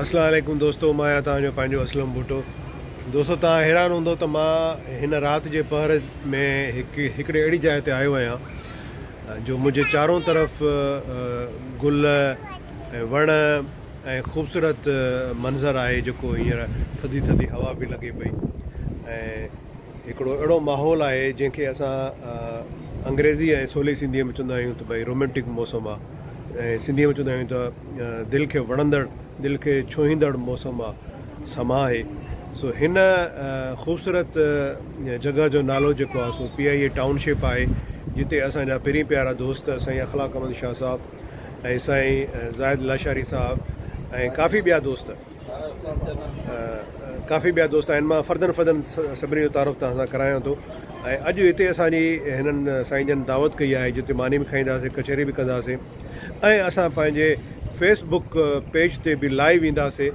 اسلام عليڪم دوستو مان آهيان توهان جو پنهنجو اسلم ڀٽو دوستو توهان حيران هوندو ته مان هن رات جي پهر ۾ هڪ هڪڙي اهڙي جاء تي آيو آهيان جو منهنجي چارون طرف گل ۽ وڻ ۽ خوبصورت منظر آهي جيڪو هينئر ٿڌي ٿڌي هوا به لڳي پئي ۽ هڪڙو اهڙو ماحول آهي جنهن کي اسان انگريزي ۽ سولي سنڌيء ۾ چوندا آهيون ته ڀئي رومينٽڪ موسم آهي ۽ سنڌيء ۾ چوندا آهيون ته دل کي وڻندڙ دل کي ڇهيندڙ موسم آهي سماء آهي سو هن خوبصورت جڳهه جو نالو جيڪو آهي سو P I A township آهي جتي اسان جا پرين پيارا دوست سائين اخلاق احمد شاهه صاحب ۽ سائين زاهد لاشاري صاحب ۽ ڪافي ٻيا دوست ڪافي ٻيا دوست آهن مان فردن فردن سڀني جو تعارف توهان سان ڪرايان ٿو ۽ اڄ هتي اسان جي هنن سائين جن دعوت ڪئي آهي جتي ماني به کائينداسين ڪچهري به ڪنداسين ۽ اسان پنهنجي فيس بڪ پيج تي به لائيو اينداسين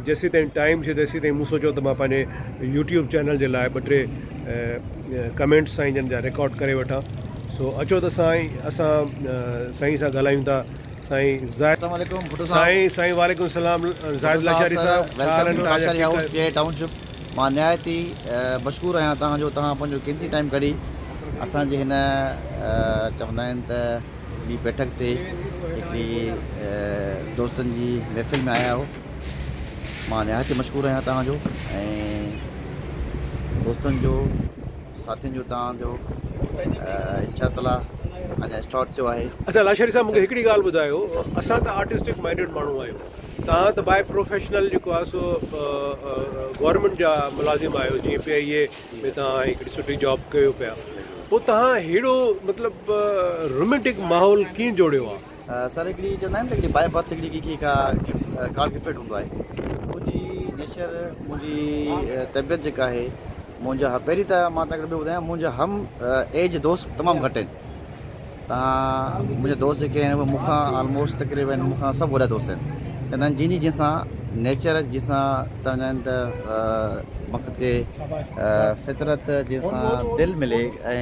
جيسي تائين ٽائيم ٿئي تيسي تائين مون سوچيو ته مان پنهنجي يوٽيوب چينل جي لاء ٻه ٽي ڪمينٽس سائين جن جا رڪارڊ ڪري وٺان سو اچو ته سائين اسان سائين سان ڳالهايون ٿا سائين سائين وعليڪم السلام زاهد لاشاري صاحب ڇا حال آهن توهان جا ٺيڪ آهيو ٽائون شپ مان نهايت ئي مشڪور آهيان توهان جو توهان پنهنجو قيمتي ٽائيم ڪڍي اسان جي هن چوندا آهن ته هڪڙي بيٺڪ تي هڪڙي دوستن جي محفل ۾ آيا آهيو مان نهايت ئي مشڪور آهيان توهان جو ۽ دوستن جو ساٿين جو توهان جو انشاء تعالٰي اڃا اسٽارٽ ٿيو آهي. اڇا لاشاري صاحب مونکي هڪڙي ڳالهه ٻڌايو اسان ته آرٽسٽڪ مائنڊيڊ ماڻهو آهيون توهان ته بائي پروفيشنل جيڪو آهي سو گورنمينٽ جا ملازم آهيو جيئن پي آئي اي ۾ توهان هڪڙي سٺي جاب ڪيو پيا پوء توهان ههڙو مطلب رومينٽڪ ماحول ڪيئن جوڙيو آهي. سر هڪڙي چوندا آهن هڪڙي باء برٿ هڪڙي ڪي ڪي ڪا گاڊ گفٽيڊ هوندو آهي منهنجي نيچر منهنجي طبيعت جيڪا آهي منهنجا پهرين ته مان تنهن ڪري ٻڌايان منهنجا هم ايج دوست تمام گهٽ آهن تان منهنجا دوست جيڪي آهن مون کان آلموسٽ تقريبن مون کان سڀ وڏا دوست آهن تنهن جن جي جنسان نيچر جنسان تنهن آهن ته مقصد کي فطرت جنسان دل ملي ۽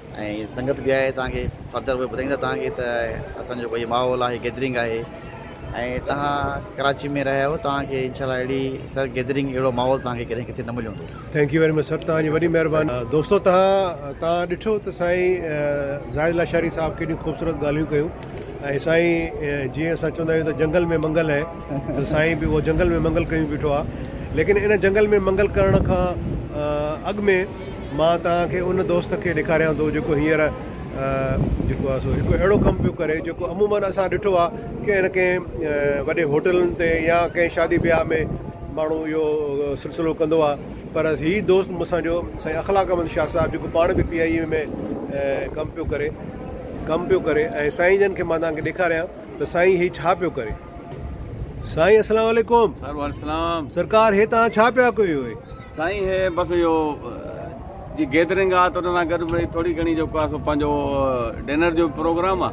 ۽ سنگت به آهي توهان کي فردر اهي ٻڌائيندا توهان کي ته اسان جو ڪوئي ماحول آهي گيدرنگ آهي ۽ توهان ڪراچي ۾ رهيا آهيو توهان کي انشاء الله اهڙي سر گيدرنگ اهڙو ماحول توهان کي ڪڏهن ڪٿي نه مليو هوندو. Thank you very much sir توهان جي وڏي مهرباني. دوستو تهان تهان ڏٺو ته سائين زاهد لاشاري صاحب ڪيڏيون خوبصورت ڳالهيون ڪيون ۽ سائين جيئن اسان چوندا آهيون ته جنگل ۾ منگل هي ته سائين به اهو جنگل ۾ منگل ڪيون بيٺو آهي ليڪن ان جنگل ۾ منگل ڪرڻ کان اڳ ۾ مان توهان کي ان دوست کي ڏيکاريان ٿو جيڪو هينئر جيڪو آهي سو هڪ اهڙو ڪم پيو ڪري جيڪو عموماً اسان ڏٺو آهي ڪنهن نه ڪنهن وڏي هوٽلن تي يا ڪنهن شادي بياهه ۾ ماڻهو اهو سلسلو ڪندو آهي پر هي دوست مون سان جو سائين اخلاقمند شاهه صاحب جيڪو پاڻ به پي آء اي ۾ ڪم پيو ڪري ڪم پيو ڪري ۽ سائين جن کي مان توهان کي ڏيکاريان ته سائين هي ڇا پيو ڪري. سائين اسلام عليڪم سروالسلام سرڪار هي تان ڇا پيا ڪيو هي سائين هي بس يو جي گيدرنگ آ تو نا گڏ ڀي ٿوري گھڻي جو ڪا سو پنجو ڊنر جو پروگرام آ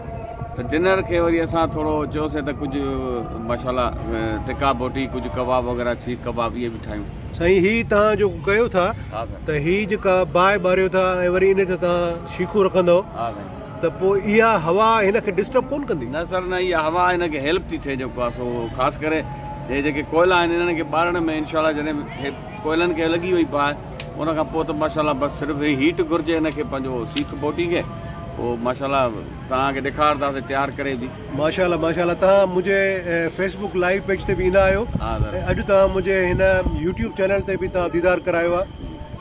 ته ڊنر کي وري اسان ٿورو چيو سي ته ڪجھ ماشاءالله تکا بوٽي ڪجھ ڪباب وغيره سيخ ڪباب اي به ٺاهيون سائين هي تان جو ڪيو ٿا ته هي جيڪا باهه ٻاريو ٿا ۽ وري ان تي تان شيخون رکندو ها سائين ته پوء اها هوا هن کي ڊسٽرب ڪونه ڪندي؟ نه سر نه اها هوا هن کي هيلپ ٿي ٿئي جيڪو آ سو خاص ڪري هي جيڪي ڪوئلا آهن هنن کي ٻارڻ ۾ انشاء الله جڏهن هي ڪوئلن کي لڳي وئي باهه ان کان پوء ته ماشاء الله بس صرف هي هيٽ گهرجي هن کي پنهنجو سيخ بوٽي کي پوء ماشاء الله توهان کي ڏيکارنداسي تيار ڪري به. ماشاء الله ماشاء الله توهان منهنجي فيس بڪ لائيو پيج تي به ايندا آهيو ۽ اڄ توهان منهنجي هن يوٽيوب چينل تي به توهان ديدار ڪرايو آ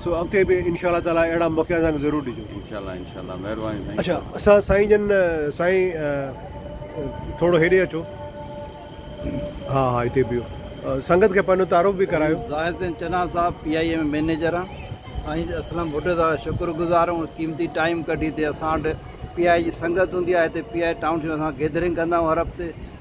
سو اڳتي به انشاء الله تعالٰي اهڙا موقعا اسان کي ضرور ڏجو. انشاء الله انشاء الله. اڇا اسان سائين جن سائين ٿورو هيڏي اچو ها ها هتي بيهو سنگت کي پنهنجو تعارف به ڪرايو. ظاهر حسين چنا صاحب پي آء اي ۾ مئنيجر آ. سائين اسلم ڀٽو جا شڪر گذار آهيون قيمتي ٽائيم ڪڍي هتي اسان وٽ پي آء اي جي سنگت هوندي آهي هتي P I A town team اسان گيدرنگ ڪندا آهيون هر هفتي.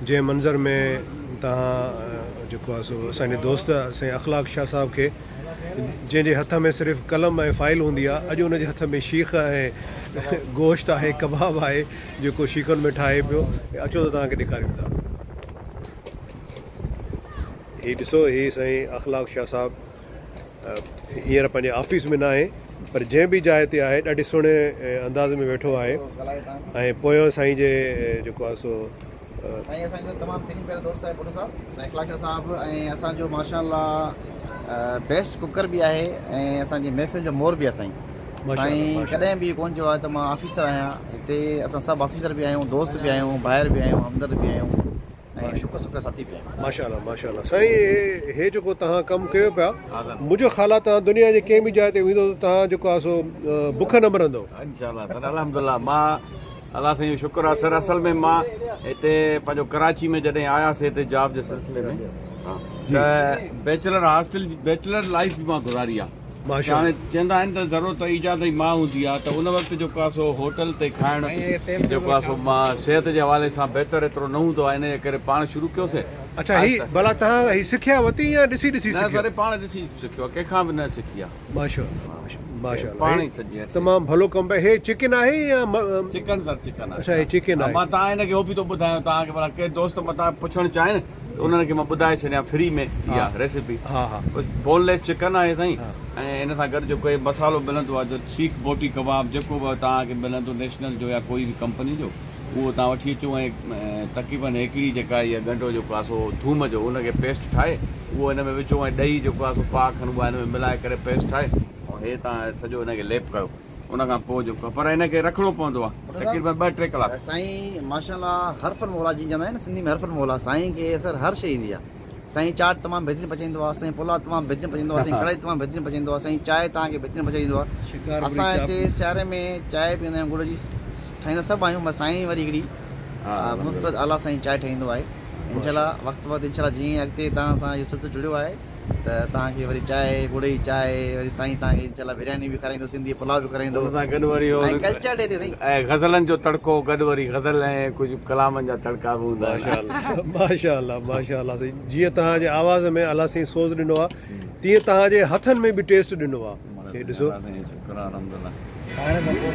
جنهن منظر ۾ توهان جيڪو آهي سو اسان جي دوست سائين اخلاق شاهه صاحب کي جنهن جي هٿ ۾ صرف قلم ۽ فائل هوندي آهي اڄ ان جي هٿ ۾ شيخ ۽ گوشت آهي ڪباب آهي جيڪو شيخن ۾ ٺاهي پيو اچو ته توهان کي ڏيکاريون ٿا هي ڏسو هي سائين اخلاق شاهه صاحب هينئر پنهنجي آفيس ۾ ناهي پر جنهن به جاء تي آهي ڏاڍي سهڻي انداز ۾ ويٺو آهي ۽ پويان سائين جي جيڪو آهي سو سائين اسان جو تمام ترين پيارو دوست آهي ڀٽو صاحب سائين اخلاق شاهه صاحب ۽ اسان جو ماشاءالله بيسٽ ڪوڪر به آهي ۽ اسان جي محفل جو مور به آهي سائين سائين ڪڏهن به ڪون چيو آهي ته مان آفيسر آهيان هتي اسان سڀ آفيسر به آهيون دوست به آهيون ڀائر به آهيون همدرد به آهيون ۽ سڪ سڪ ساتي ڪيائين. ماشاء الله ماشاء الله سائين هي جيڪو توهان ڪم ڪيو پيا منهنجو خيال آ توهان دنيا جي ڪنهن به جاء تي ويندو ته توهان جيڪو آ سو بک نه مرندو. انشاء الله سر الحمدلله مان الله سائين جو شڪر آ سر اصل ۾ مان هتي پنهنجو ڪراچي ۾ جڏهن آياسي هتي جاب جي سلسلي ۾ ته بيچلر هاسٽل بيچلر لائيف به مان گذاري آ. ماشاءالله. هاڻي چيندا آهن ته ضرورت ايجاد جي ماء هوندي آهي ته ان وقت جو ڪاسو هوٽل تي کائڻ جو ڪاسو صحت جي حوالي سان بهتر ايترو نه هوندو آهي انهيء ڪري پاڻ شروع ڪيوسين اڇا هي ڀلا تهان هي سکيا وتي يا ڏسي ڏسي نه سکيو. سر پاڻ ڏسي سکيو آهي ڪنهن کان به نه سکي آهي. ماشاءالله ماشاءالله ماشاءالله پاڻ هي ئي سڄي عرصي تمام ڀلو ڪم پئي هي چڪن آهي يا چڪن سر چڪن آهي اڇا هي چڪن آهي. مان تهان هن کي هو به ٿو ٻڌايان تهان کي ڀلا ڪي دوست متان پڇڻ چاهين. انهن کي مان ٻڌائي ڇڏيان فري ۾ اها ريسيپي بون ليس چڪن آهي سائين ۽ ان سان گڏ جو ڪوئي مصالحو ملندو آهي سيخ بوٽي ڪباب جيڪو به توهان کي ملندو نيشنل جو يا ڪوئي به ڪمپني جو اهو توهان وٺي اچو ۽ تقريبن هيڪڙي جيڪا اها ڳنڍو جيڪو آهي سو ٿوم جو ان کي پيسٽ ٺاهي اهو ان ۾ وجهو ۽ ڏهي جيڪو آهي سو پاء کن اها ان ۾ ملائي ڪري پيسٽ ٺاهي ۽ هي توهان سڄو ان کي ليپ ڪيو ان کان پوء جيڪو پر ان کي رکڻو پوندو آ تقريبن ٻه ٽي ڪلاڪ. سائين ماشاء الله حرف الموليٰ جيئن چوندا آهن سنڌي ۾ حرف الموليٰ سائين کي اثر هر شيء ايندي آهي سائين چاٽ تمام بهترين پچائيندو آهي سائين پلاء تمام بهترين پچائيندو آهي سائين ڪڙهائي تمام بهترين پچائيندو آهي سائين چاء توهان کي بهترين پچائي ڏيندو آهي اسان هتي سياري ۾ چاء پيئندا آهيون گڙ جي ٺاهيندا سڀ آهيون مگر سائين وري هڪڙي منفرد اعليٰ سائين چاء ٺاهيندو آهي انشاء الله وقت وقت انشاء الله جيئن اڳتي توهان سان اهو سلسلو جڙيو آهي ته توهان کي وري چائي، ڳڙئي چائي، وري سائين توهان کي انشاءالله برياني به کارائيندو، سنڌي پلاء به کارائيندو. ان سان گڏ وري ۽ ڪلچر ڏي تي سائين. ۽ غزلن جو تڙڪو گڏ وري غزل ۽ ڪجهه ڪلامن جا تڙڪا به هوندا آهن. ماشاء الله ماشاء الله ماشاء الله سائين جيئن توهان جي آواز ۾ الله سائين سوز ڏنو آ تيئن توهان جي هٿن ۾ به ٽيسٽ ڏنو آ هي ڏسو. الله سائين شڪر آ الحمد الله کائڻ کان پوء.